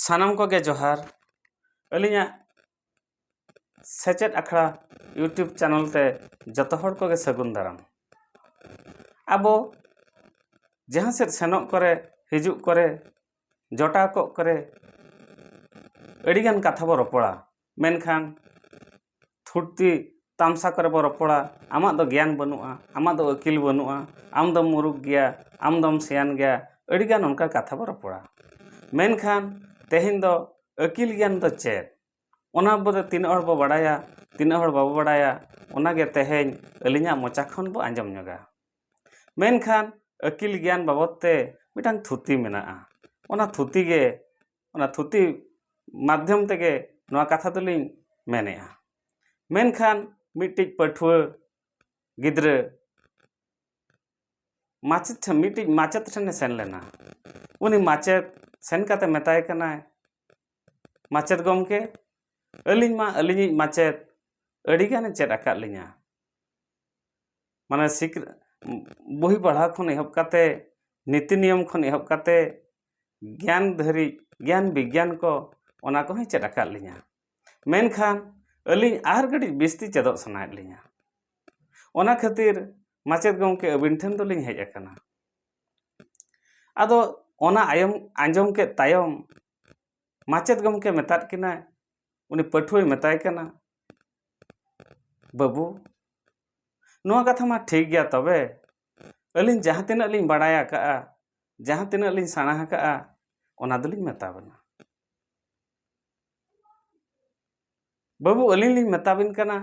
ᱥᱟᱱᱟᱢ ᱠᱚᱜᱮ ᱡᱚᱦᱟᱨ ᱟᱹᱞᱤᱧᱟᱜ ᱥᱮᱪᱮᱫ ᱟᱠᱷᱲᱟ ᱤᱭᱩᱴᱩᱵᱽ ᱪᱮᱱᱮᱞ ᱛᱮ ᱡᱚᱛᱚ ᱦᱚᱲ ᱠᱚᱜᱮ ᱥᱟᱹᱜᱩᱱ ᱫᱟᱨᱟᱢ ᱟᱵᱚ ᱡᱟᱦᱟᱸ ᱥᱮᱫ ᱥᱮᱱᱚᱜ ᱠᱚᱨᱮ ᱦᱤᱡᱩᱜ ᱠᱚᱨᱮ ᱡᱚᱴᱟᱣ ᱠᱚᱜ ᱠᱚᱨᱮ ᱟᱹᱰᱤᱜᱟᱱ ᱠᱟᱛᱷᱟ ᱵᱚᱱ ᱨᱚᱯᱚᱲᱟ ᱢᱮᱱᱠᱷᱟᱱ ᱛᱷᱩᱛᱤ ᱛᱟᱢᱥᱟ ᱠᱚᱨᱮ ᱵᱚᱱ ᱨᱚᱯᱚᱲᱟ ᱟᱢᱟᱜ ᱫᱚ ᱜᱮᱭᱟᱱ ᱵᱟᱹᱱᱩᱜᱼᱟ ᱟᱢᱟᱜ ᱫᱚ ᱟᱹᱠᱤᱞ ᱵᱟᱹᱱᱩᱜᱼᱟ ᱟᱢ ᱫᱚᱢ ᱢᱩᱨᱩᱠᱷ ᱜᱮᱭᱟ ᱟᱢ ᱫᱚᱢ ᱥᱮᱭᱟᱱ ᱜᱮᱭᱟ ᱟᱹᱰᱤ ᱜᱟᱱ ᱚᱱᱠᱟ ᱠᱟᱛᱷᱟ ᱵᱚᱱ ᱨᱚᱯᱚᱲᱟ ᱢᱮᱱᱠᱷᱟᱱ ᱛᱮᱦᱮᱧ ᱫᱚ ᱟᱹᱠᱤᱞ ᱜᱮᱭᱟᱱ ᱫᱚ ᱪᱮᱫ ᱚᱱᱟ ᱵᱟᱵᱚᱫ ᱛᱤᱱᱟᱹᱜ ᱦᱚᱲ ᱵᱚᱱ ᱵᱟᱲᱟᱭᱟ ᱛᱤᱱᱟᱹᱜ ᱦᱚᱲ ᱵᱟᱵᱚᱱ ᱵᱟᱲᱟᱭᱟ ᱚᱱᱟᱜᱮ ᱛᱮᱦᱮᱧ ᱟᱹᱞᱤᱧᱟᱜ ᱢᱚᱪᱟ ᱠᱷᱚᱱ ᱵᱚᱱ ᱟᱸᱡᱚᱢ ᱧᱚᱜᱟ ᱢᱮᱱᱠᱷᱟᱱ ᱟᱹᱠᱤᱞ ᱜᱮᱭᱟᱱ ᱵᱟᱵᱚᱫ ᱛᱮ ᱢᱤᱫᱴᱟᱱ ᱛᱷᱩᱛᱤ ᱢᱮᱱᱟᱜᱼᱟ ᱚᱱᱟ ᱛᱷᱩᱛᱤ ᱜᱮ ᱚᱱᱟ ᱛᱷᱩᱛᱤ ᱢᱟᱫᱽᱫᱷᱚᱢ ᱛᱮᱜᱮ ᱱᱚᱣᱟ ᱠᱟᱛᱷᱟ ᱫᱚᱞᱤᱧ ᱢᱮᱱᱮᱜᱼᱟ ᱢᱮᱱᱠᱷᱟᱱ ᱢᱤᱫᱴᱤᱡ ᱯᱟᱹᱴᱷᱩᱣᱟᱹ ᱜᱤᱫᱽᱨᱟᱹ ᱢᱟᱪᱮᱫ ᱴᱷᱮᱱ ᱢᱤᱫᱴᱤᱡ ᱢᱟᱪᱮᱫ ᱴᱷᱮᱱᱮ ᱥᱮᱱ ᱞᱮᱱᱟ ᱩᱱᱤ ᱢᱟᱪᱮᱫ ᱥᱮᱱ ᱠᱟᱛᱮ ᱢᱮᱛᱟᱭ ᱠᱟᱱᱟᱭ ᱢᱟᱪᱮᱫ ᱜᱚᱢᱠᱮ ᱟᱹᱞᱤᱧ ᱢᱟ ᱟᱹᱞᱤᱧᱤᱡ ᱢᱟᱪᱮᱫ ᱟᱹᱰᱤᱜᱟᱱᱮ ᱪᱮᱫ ᱟᱠᱟᱫ ᱞᱤᱧᱟ ᱢᱟᱱᱮ ᱥᱤᱠ ᱵᱳᱭ ᱯᱟᱲᱦᱟᱣ ᱠᱷᱚᱱ ᱮᱦᱚᱵ ᱠᱟᱛᱮ ᱱᱤᱛᱤ ᱱᱤᱭᱚᱢ ᱠᱷᱚᱱ ᱮᱦᱚᱵ ᱠᱟᱛᱮ ᱜᱮᱭᱟᱱ ᱫᱷᱟᱹᱨᱤᱡ ᱜᱮᱭᱟᱱ ᱵᱤᱜᱽᱜᱟᱱ ᱠᱚ ᱚᱱᱟ ᱠᱚᱦᱚᱸᱭ ᱪᱮᱫ ᱟᱠᱟᱫ ᱞᱤᱧᱟᱹ ᱢᱮᱱᱠᱷᱟᱱ ᱟᱹᱞᱤᱧ ᱟᱨ ᱠᱟᱹᱴᱤᱡ ᱵᱤᱥᱛᱤ ᱪᱮᱫᱚᱜ ᱥᱟᱱᱟᱭᱮᱫ ᱞᱤᱧᱟᱹ ᱚᱱᱟ ᱠᱷᱟᱹᱛᱤᱨ ᱢᱟᱪᱮᱫ ᱜᱚᱢᱠᱮ ᱟᱹᱵᱤᱱ ᱴᱷᱮᱱ ᱫᱚᱞᱤᱧ ᱦᱮᱡ ᱟᱠᱟᱱᱟ ᱟᱫᱚ ᱚᱱᱟ ᱟᱭᱚᱢ ᱟᱸᱡᱚᱢ ᱠᱮᱫ ᱛᱟᱭᱚᱢ ᱢᱟᱪᱮᱫ ᱜᱚᱢᱠᱮ ᱢᱮᱛᱟᱫ ᱠᱤᱱᱟᱭ ᱩᱱᱤ ᱯᱟᱹᱴᱷᱩᱣᱟᱹᱭ ᱢᱮᱛᱟᱭ ᱠᱟᱱᱟ ᱵᱟᱹᱵᱩ ᱱᱚᱣᱟ ᱠᱟᱛᱷᱟ ᱢᱟ ᱴᱷᱤᱠ ᱜᱮᱭᱟ ᱛᱚᱵᱮ ᱟᱹᱞᱤᱧ ᱡᱟᱦᱟᱸ ᱛᱤᱱᱟᱹᱜ ᱞᱤᱧ ᱵᱟᱲᱟᱭ ᱟᱠᱟᱫᱼᱟ ᱡᱟᱦᱟᱸ ᱛᱤᱱᱟᱹᱜ ᱞᱤᱧ ᱥᱮᱬᱟ ᱟᱠᱟᱫᱼᱟ ᱚᱱᱟ ᱫᱚᱞᱤᱧ ᱢᱮᱛᱟ ᱵᱮᱱᱟ ᱵᱟᱹᱵᱩ ᱟᱹᱞᱤᱧ ᱞᱤᱧ ᱢᱮᱛᱟ ᱵᱮᱱ ᱠᱟᱱᱟ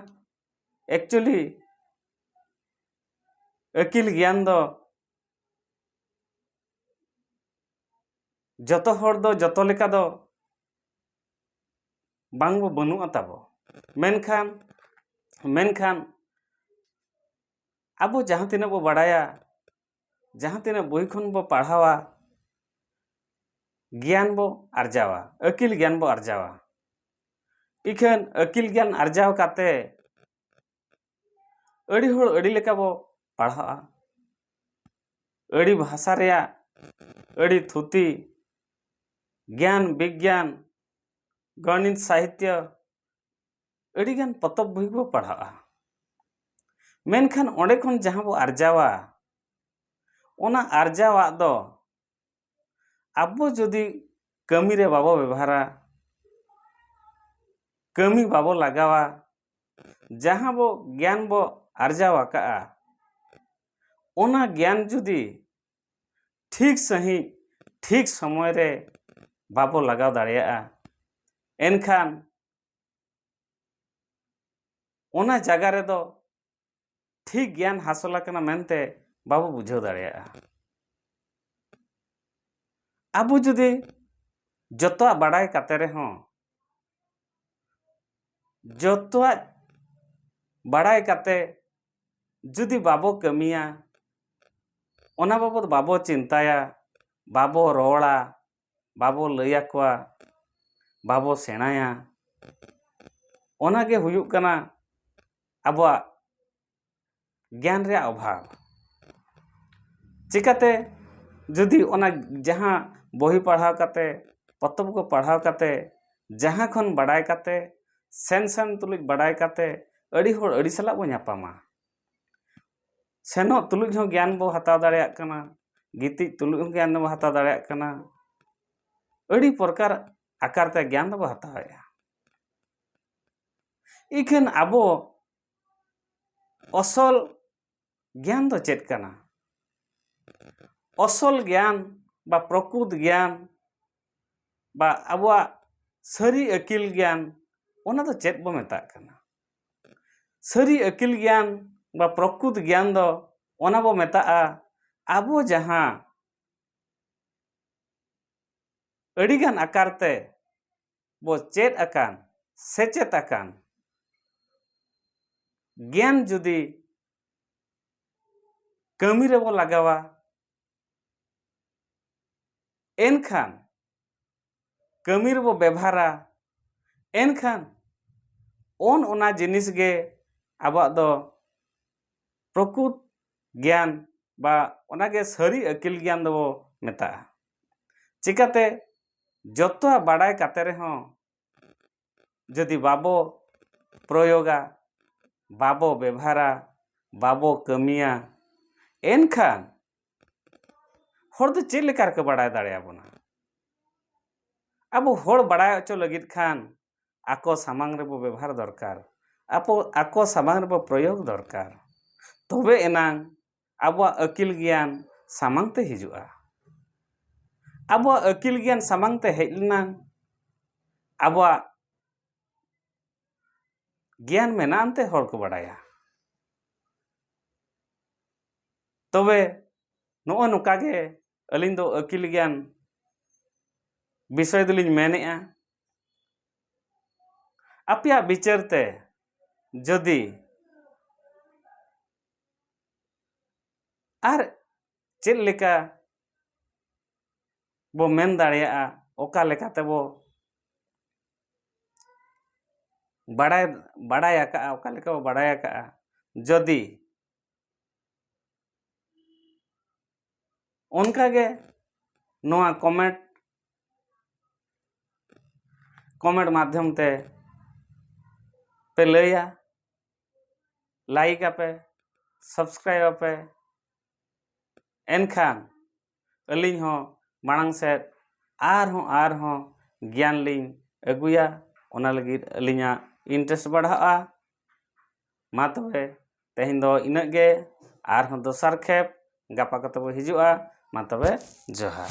ᱮᱠᱪᱩᱭᱮᱞᱤ ᱟᱹᱠᱤᱞ ᱜᱮᱭᱟᱱ ᱫᱚ ᱡᱚᱛᱚ ᱦᱚᱲ ᱫᱚ ᱡᱚᱛᱚ ᱞᱮᱠᱟ ᱫᱚ ᱵᱟᱝ ᱵᱚ ᱵᱟᱹᱱᱩᱜᱼᱟ ᱛᱟᱵᱚ ᱢᱮᱱᱠᱷᱟᱱ ᱢᱮᱱᱠᱷᱟᱱ ᱟᱵᱚ ᱡᱟᱦᱟᱸ ᱛᱤᱱᱟᱹᱜ ᱵᱚ ᱵᱟᱲᱟᱭᱟ ᱡᱟᱦᱟᱸ ᱛᱤᱱᱟᱹᱜ ᱵᱳᱭ ᱠᱷᱚᱱ ᱵᱚ ᱯᱟᱲᱦᱟᱣᱟ ᱜᱮᱭᱟᱱ ᱵᱚ ᱟᱨᱡᱟᱣᱟ ᱟᱹᱠᱤᱞ ᱜᱮᱭᱟᱱ ᱵᱚ ᱟᱨᱡᱟᱣᱟ ᱤᱠᱷᱟᱹᱱ ᱟᱹᱠᱤᱞ ᱜᱮᱭᱟᱱ ᱟᱨᱡᱟᱣ ᱠᱟᱛᱮ ᱟᱹᱰᱤ ᱦᱚᱲ ᱟᱹᱰᱤ ᱞᱮᱠᱟ ᱵᱚ ᱯᱟᱲᱦᱟᱜᱼᱟ ᱟᱹᱰᱤ ᱵᱷᱟᱥᱟ ᱨᱮᱭᱟᱜ ᱟᱹᱰᱤ ᱛᱷᱩᱛᱤ ᱜᱮᱭᱟᱱ ᱵᱤᱜᱽᱜᱟᱱ ᱜᱚᱱᱤᱛ ᱥᱟᱦᱤᱛᱭᱚ ᱟᱹᱰᱤᱜᱟᱱ ᱯᱚᱛᱚᱵ ᱵᱳᱭ ᱵᱚ ᱯᱟᱲᱦᱟᱜᱼᱟ ᱢᱮᱱᱠᱷᱟᱱ ᱚᱸᱰᱮ ᱠᱷᱚᱱ ᱡᱟᱦᱟᱸ ᱵᱚ ᱟᱨᱡᱟᱣᱟ ᱚᱱᱟ ᱟᱨᱡᱟᱣᱟᱜ ᱫᱚ ᱟᱵᱚ ᱡᱩᱫᱤ ᱠᱟᱹᱢᱤ ᱨᱮ ᱵᱟᱵᱚ ᱵᱮᱵᱷᱟᱨᱟ ᱠᱟᱹᱢᱤ ᱵᱟᱵᱚ ᱞᱟᱜᱟᱣᱟ ᱡᱟᱦᱟᱸ ᱵᱚ ᱜᱮᱭᱟᱱ ᱵᱚ ᱟᱨᱡᱟᱣ ᱟᱠᱟᱫᱼᱟ ᱚᱱᱟ ᱜᱮᱭᱟᱱ ᱡᱩᱫᱤ ᱴᱷᱤᱠ ᱥᱟᱺᱦᱤᱡ ᱴᱷᱤᱠ ᱥᱚᱢᱚᱭ ᱨᱮ ᱵᱟᱵᱚ ᱞᱟᱜᱟᱣ ᱫᱟᱲᱮᱭᱟᱜᱼᱟ ᱮᱱᱠᱷᱟᱱ ᱚᱱᱟ ᱡᱟᱭᱜᱟ ᱨᱮᱫᱚ ᱴᱷᱤᱠ ᱜᱮᱭᱟᱱ ᱦᱟᱥᱚᱞ ᱟᱠᱟᱱᱟ ᱢᱮᱱᱛᱮ ᱵᱟᱵᱚ ᱵᱩᱡᱷᱟᱹᱣ ᱫᱟᱲᱮᱭᱟᱜᱼᱟ ᱟᱵᱚ ᱡᱩᱫᱤ ᱡᱚᱛᱚᱣᱟᱜ ᱵᱟᱲᱟᱭ ᱠᱟᱛᱮ ᱨᱮᱦᱚᱸ ᱡᱚᱛᱚᱣᱟᱜ ᱵᱟᱲᱟᱭ ᱠᱟᱛᱮ ᱡᱩᱫᱤ ᱵᱟᱵᱚ ᱠᱟᱹᱢᱤᱭᱟ ᱚᱱᱟ ᱵᱟᱵᱚᱫ ᱵᱟᱵᱚ ᱪᱤᱱᱛᱟᱭᱟ ᱵᱟᱵᱚ ᱨᱚᱲᱟ ᱵᱟᱵᱚ ᱞᱟᱹᱭ ᱟᱠᱚᱣᱟ ᱵᱟᱵᱚ ᱥᱮᱬᱟᱭᱟ ᱚᱱᱟ ᱜᱮ ᱦᱩᱭᱩᱜ ᱠᱟᱱᱟ ᱟᱵᱚᱣᱟᱜ ᱜᱮᱭᱟᱱ ᱨᱮᱭᱟᱜ ᱚᱵᱷᱟᱵᱽ ᱪᱤᱠᱟᱹᱛᱮ ᱡᱩᱫᱤ ᱚᱱᱟ ᱡᱟᱦᱟᱸ ᱵᱳᱭ ᱯᱟᱲᱦᱟᱣ ᱠᱟᱛᱮ ᱯᱚᱛᱚᱵ ᱠᱚ ᱯᱟᱲᱦᱟᱣ ᱠᱟᱛᱮ ᱡᱟᱦᱟᱸ ᱠᱷᱚᱱ ᱵᱟᱲᱟᱭ ᱠᱟᱛᱮ ᱥᱮᱱ ᱥᱮᱱ ᱛᱩᱞᱩᱡ ᱵᱟᱲᱟᱭ ᱠᱟᱛᱮ ᱟᱹᱰᱤ ᱦᱚᱲ ᱟᱹᱰᱤ ᱥᱟᱞᱟᱜ ᱵᱚᱱ ᱧᱟᱯᱟᱢᱟ ᱥᱮᱱᱚᱜ ᱛᱩᱞᱩᱡ ᱦᱚᱸ ᱜᱮᱭᱟᱱ ᱵᱚᱱ ᱦᱟᱛᱟᱣ ᱫᱟᱲᱮᱭᱟᱜ ᱠᱟᱱᱟ ᱜᱤᱛᱤᱡ ᱛᱩᱞᱩᱡ ᱦᱚᱸ ᱜᱮᱭᱟᱱ ᱵᱚᱱ ᱦᱟᱛᱟᱣ ᱫᱟᱲᱮᱭᱟᱜ ᱠᱟᱱᱟ ᱟᱹᱰᱤ ᱯᱨᱚᱠᱟᱨ ᱟᱠᱟᱨ ᱛᱮ ᱜᱮᱭᱟᱱ ᱫᱚᱵᱚᱱ ᱦᱟᱛᱟᱣᱮᱫᱼᱟ ᱤᱠᱷᱟᱹᱱ ᱟᱵᱚ ᱚᱥᱚᱞ ᱜᱮᱭᱟᱱ ᱫᱚ ᱪᱮᱫ ᱠᱟᱱᱟ ᱚᱥᱚᱞ ᱜᱮᱭᱟᱱ ᱵᱟ ᱯᱨᱚᱠᱩᱛ ᱜᱮᱭᱟᱱ ᱵᱟ ᱟᱵᱚᱣᱟᱜ ᱥᱟᱹᱨᱤ ᱟᱹᱠᱤᱞ ᱜᱮᱭᱟᱱ ᱚᱱᱟ ᱫᱚ ᱪᱮᱫ ᱵᱚ ᱢᱮᱛᱟᱜ ᱠᱟᱱᱟ ᱥᱟᱹᱨᱤ ᱟᱹᱠᱤᱞ ᱜᱮᱭᱟᱱ ᱵᱟ ᱯᱨᱚᱠᱨᱩᱛ ᱜᱮᱭᱟᱱ ᱫᱚ ᱚᱱᱟ ᱵᱚ ᱢᱮᱛᱟᱜᱼᱟ ᱟᱵᱚ ᱡᱟᱦᱟᱸ ᱟᱹᱰᱤ ᱜᱟᱱ ᱟᱠᱟᱨ ᱛᱮ ᱵᱚ ᱪᱮᱫ ᱟᱠᱟᱱ ᱥᱮᱪᱮᱫ ᱟᱠᱟᱱ ᱜᱮᱭᱟᱱ ᱡᱩᱫᱤ ᱠᱟᱹᱢᱤ ᱨᱮᱵᱚ ᱞᱟᱜᱟᱣᱟ ᱮᱱᱠᱷᱟᱱ ᱠᱟᱹᱢᱤ ᱨᱮᱵᱚ ᱵᱮᱵᱷᱟᱨᱟ ᱮᱱᱠᱷᱟᱱ ᱚᱱ ᱚᱱᱟ ᱡᱤᱱᱤᱥ ᱜᱮ ᱟᱵᱚᱣᱟᱜ ᱫᱚ ᱯᱨᱚᱠᱩᱛ ᱜᱮᱭᱟᱱ ᱵᱟ ᱚᱱᱟᱜᱮ ᱥᱟᱹᱨᱤ ᱟᱹᱠᱤᱞ ᱜᱮᱭᱟᱱ ᱫᱚᱵᱚ ᱢᱮᱛᱟᱜᱼᱟ ᱪᱤᱠᱟᱹᱛᱮ ᱡᱚᱛᱚᱣᱟᱜ ᱵᱟᱲᱟᱭ ᱠᱟᱛᱮ ᱨᱮᱦᱚᱸ ᱡᱩᱫᱤ ᱵᱟᱵᱚ ᱯᱨᱚᱭᱳᱜᱟ ᱵᱟᱵᱚ ᱵᱮᱵᱷᱟᱨᱟ ᱵᱟᱵᱚ ᱠᱟᱹᱢᱤᱭᱟ ᱮᱱᱠᱷᱟᱱ ᱦᱚᱲ ᱫᱚ ᱪᱮᱫ ᱞᱮᱠᱟ ᱨᱮᱠᱚ ᱵᱟᱲᱟᱭ ᱫᱟᱲᱮᱭᱟᱵᱚᱱᱟ ᱟᱵᱚ ᱦᱚᱲ ᱵᱟᱲᱟᱭ ᱦᱚᱪᱚ ᱞᱟᱹᱜᱤᱫ ᱠᱷᱟᱱ ᱟᱠᱚ ᱥᱟᱢᱟᱝ ᱨᱮᱵᱚ ᱵᱮᱵᱷᱟᱨ ᱫᱚᱨᱠᱟᱨ ᱟᱵᱚ ᱟᱠᱚ ᱥᱟᱢᱟᱝ ᱨᱮᱵᱚ ᱯᱨᱚᱭᱳᱜᱽ ᱫᱚᱨᱠᱟᱨ ᱛᱚᱵᱮ ᱮᱱᱟᱝ ᱟᱵᱚᱣᱟᱜ ᱟᱹᱠᱤᱞ ᱜᱮᱭᱟᱱ ᱥᱟᱢᱟᱝ ᱛᱮ ᱦᱤᱡᱩᱜᱼᱟ ᱟᱵᱚᱣᱟᱜ ᱟᱹᱠᱤᱞ ᱜᱮᱭᱟᱱ ᱥᱟᱢᱟᱝ ᱛᱮ ᱦᱮᱡ ᱞᱮᱱᱟ ᱟᱵᱚᱣᱟᱜ ᱜᱮᱭᱟᱱ ᱢᱮᱱᱟᱜ ᱟᱱᱛᱮ ᱦᱚᱲ ᱠᱚ ᱵᱟᱰᱟᱭᱟ ᱛᱚᱵᱮ ᱱᱚᱜᱼᱚ ᱱᱚᱝᱠᱟ ᱜᱮ ᱟᱹᱞᱤᱧ ᱫᱚ ᱟᱹᱠᱤᱞ ᱜᱮᱭᱟᱱ ᱵᱤᱥᱚᱭ ᱫᱚᱞᱤᱧ ᱢᱮᱱᱮᱜᱼᱟ ᱟᱯᱮᱭᱟᱜ ᱵᱤᱪᱟᱹᱨ ᱛᱮ ᱡᱩᱫᱤ ᱟᱨ ᱪᱮᱫ ᱞᱮᱠᱟ ᱵᱚ ᱢᱮᱱ ᱫᱟᱲᱮᱭᱟᱜᱼᱟ ᱚᱠᱟ ᱞᱮᱠᱟ ᱛᱮᱵᱚ ᱵᱟᱲᱟᱭ ᱵᱟᱲᱟᱭ ᱟᱠᱟᱫᱼᱟ ᱚᱠᱟ ᱞᱮᱠᱟ ᱵᱚ ᱵᱟᱲᱟᱭ ᱟᱠᱟᱫᱼᱟ ᱡᱚᱫᱤ ᱚᱱᱠᱟ ᱜᱮ ᱱᱚᱣᱟ ᱠᱚᱢᱮᱱᱴ ᱠᱚᱢᱮᱱᱴ ᱢᱟᱫᱽᱫᱷᱚᱢ ᱛᱮ ᱯᱮ ᱞᱟᱹᱭᱟ ᱞᱟᱭᱤᱠ ᱟᱯᱮ ᱥᱟᱵᱥᱠᱨᱟᱭᱤᱵᱽ ᱟᱯᱮ ᱮᱱᱠᱷᱟᱱ ᱟᱹᱞᱤᱧ ᱦᱚᱸ ᱢᱟᱲᱟᱝ ᱥᱮᱫ ᱟᱨᱦᱚᱸ ᱟᱨᱦᱚᱸ ᱜᱮᱭᱟᱱ ᱞᱤᱧ ᱟᱹᱜᱩᱭᱟ ᱚᱱᱟ ᱞᱟᱹᱜᱤᱫ ᱟᱹᱞᱤᱧᱟᱜ ᱤᱱᱴᱨᱮᱥᱴ ᱵᱟᱲᱦᱟᱜᱼᱟ ᱢᱟ ᱛᱚᱵᱮ ᱛᱮᱦᱮᱧ ᱫᱚ ᱤᱱᱟᱹᱜ ᱜᱮ ᱟᱨᱦᱚᱸ ᱫᱚᱥᱟᱨ ᱠᱷᱮᱯ ᱜᱟᱯᱟ ᱠᱚᱛᱮ ᱵᱚ ᱦᱤᱡᱩᱜᱼᱟ ᱢᱟ ᱛᱚᱵᱮ ᱡᱚᱦᱟᱨ